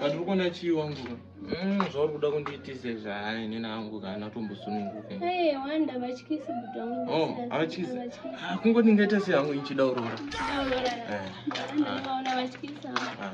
but uri kuona chii wangu mm, zvauri kuda kundiitise zvaya inini angu kana atombosununguke oh, avatyisi ah, kungo ndingaita sei hangu ichida urora eh, ah. ah,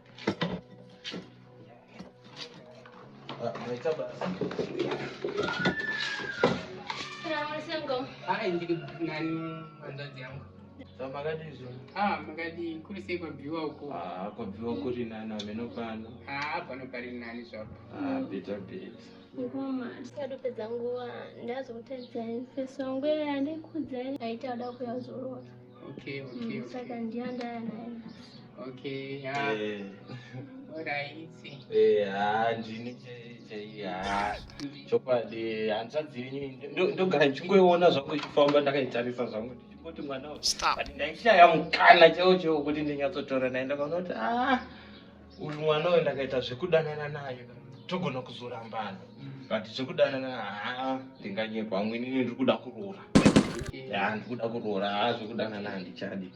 makadii kuri sei kwabviwa uko kwabviwa kuri nani ameno pano pano pari nani zvapo beta beta ngoma ndikadopedza nguva ndazokutedzai feso ngwera ndikudzai aita ada kuyazorora Okay, okay, okay. Mm, saka ndiyo ndaya naye nhasi. Okay, yeah. Eh. Oraiti. Eh, ah, ndini chaiye. Ah, chokwadi hanzvadzi yenyu ndogara ndichingoiona zvangu ichifamba ndakaitarisa zvangu ndichingoti mwana uyu. Stop. But ndaishaya mukana chaiwo chaiwo kuti ndinyatsotora naye ndakaona kuti ah uyu mwana uyo ndakaita zvekudanana naye togona kuzorambana but zvekudanana haa ndinganyekwa amwe inini ndiri kuda kuroora ya ndiri kuda kuroora haa zvekudanana handichadi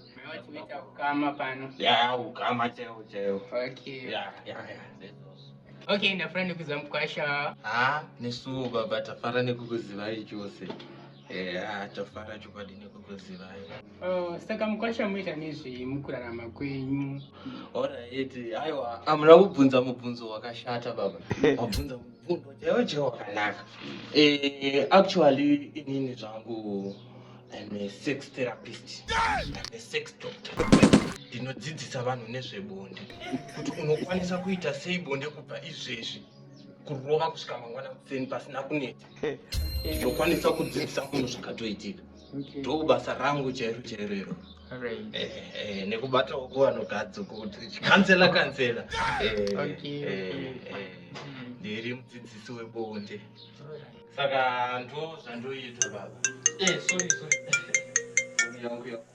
ukama pano ya ukama chaiwo chaiwo okay ya ya ya okay ndafara nekuziva mukwasha haa nesuwo baba tafara nekukuzivai chose Eya, tofara chokwadi nekukuzivai. Oh, saka mukwasha muita nezvei mukurarama kwenyu? Alright, aiwa, amuna kubvunza mubvunzo wakashata baba. Mabvunza mubvunzo chaiwo chaiwo wakanaka. Eh, actually inini zvangu I'm a sex therapist. I'm a sex doctor. Ndinodzidzisa vanhu nezvebonde. Kuti unokwanisa kuita sei bonde kubva izvezvi kurova kusvika mangwana kuseni pasina kunetsa. ndokwanisa kudzidzisa munhu zvakatoitika ndobasa rangu chairo chairo iro eh, eh, nekubatawo kuvanogadzo kuti kansela kansela ndiri mudzidzisi webonde saka ndo zvandoita baba eh, sorry sorry yangu yangu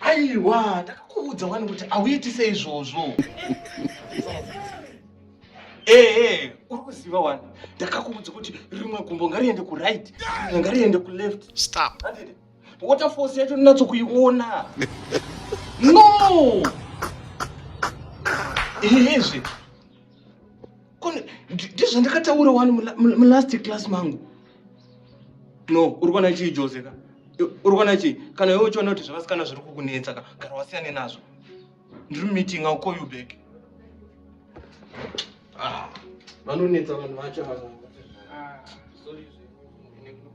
aiwa ndakakuudza wani kuti auitise izvozvo ehe uri kuziva wani ndakakuudza kuti rimwe gumbo ngariende kuright rimwe ngariende kuleft stop water force yacho ndinatso kuiona no ehezve ndizvo ndakataura wani mulast class mangu no uri kuona chii jose ka uri kuona chii kana iwe uchiona kuti zvavasikana zviri kukunetsa ka gara wasiyane nazvo ndiri mumeeting i'll call you back ah, vanonetsa vanhu vacho ava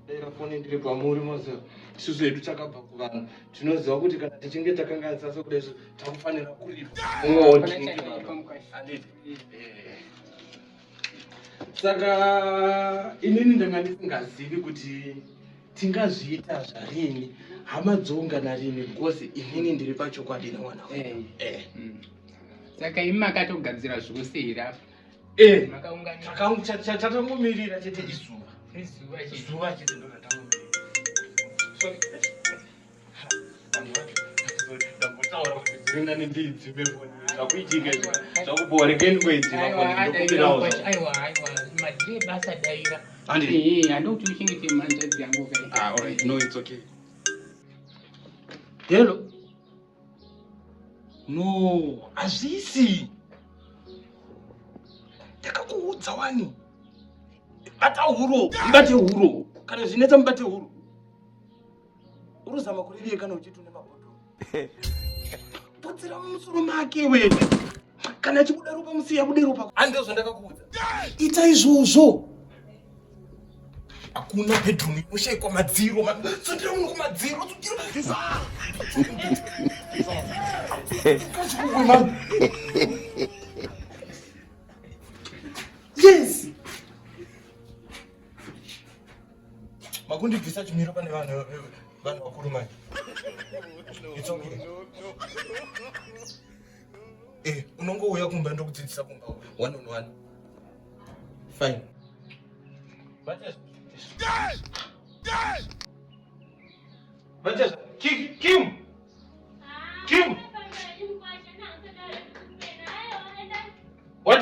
dera foni ndiri pamuri mose isusu hedu takabva kuvanhu tinoziva kuti kana tichinge takanganisasa kudai takufanira kuripwa saka inini ndanga ndisingazivi kuti tingazviita zvarini hama dzoungana rini because inini ndiri pachokwadi nemwana eh. eh. mm. saka imi makatogadzira zvose here apa eh. takangomirira chete izuva izuva chete ndotatangomirira Hello. No, hazvisi. Ndakakuudza wani. Bata huro, mubate huro. Kana zvinetsa mubate huro. Uruzama kurivie kana uchiti une mabhodhoro. Putsira mumusoro make wewe. Kana chibuda ropa musiya bude ropa. Ande zvandakakuudza. Ita izvozvo. Hakuna bedroom inoshaikwa madziro. Tsundira munhu kumadziro. Tsundira. Yes. makundibvisa chimiro pane vanhu vanhu vakuru manje it's okay eh unongouya kumba ndokudzidzisa kumba one on one fine Vanessa, Kim, Kim, Kim. What?